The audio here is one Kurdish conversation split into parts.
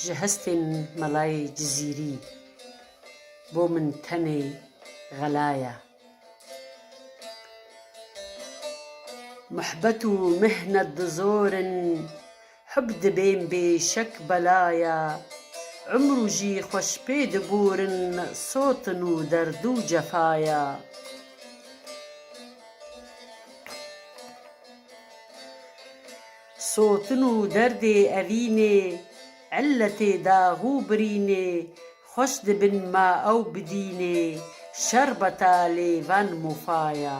Ji hestên melayê Cizîrî bo min tenê xela ye. Muhbet û mihnet di zor in. Hub dibên bê şek belaya. Umr û jî xweş pê digorin sotin û derd û cefaya. Sotin û derdê evînê, illetê dax û birînê xweş dibin ma ew bidînê şerbeta lêvan mofaya.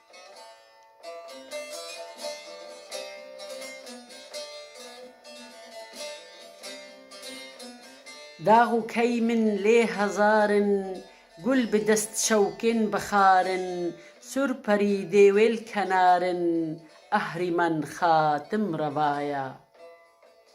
Dax û key min lê hezar in Gul bi dest şewkên bi xar in Sur perî dê wêl kenar in Ehrîman xatim reva ya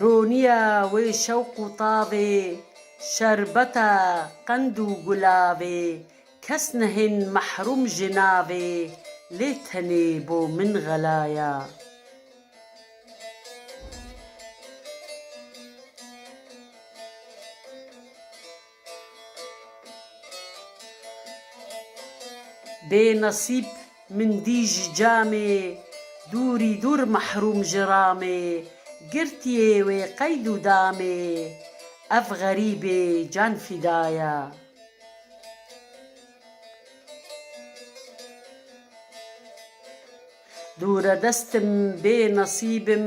Roniya wê şewq û tavê Şerbeta qend û gulavê Kes nehên mehrûm ji navê Lê tenê bo min xelaya. Bê nasîb min dî ji camê Dûrî dûr mehrûm ji ramê Girtiyê wê qeyd û damê Ev xerîbê can fîda ya. Dûre destim bê nasîbim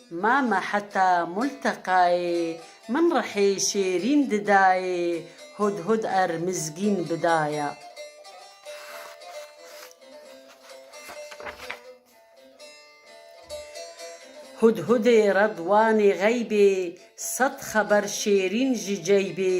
Mama heta multeqayê. Min rihê şêrîn didayê. Hudhud err mizgîn bidaya. Hudhudê redwanê xeybê. Sed xeber şêrîn ji ceybê.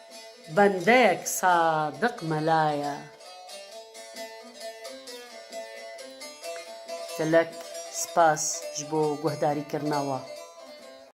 Bendeyek sadiq mela ye. Gelek spas ji bo guhdarîkirina we.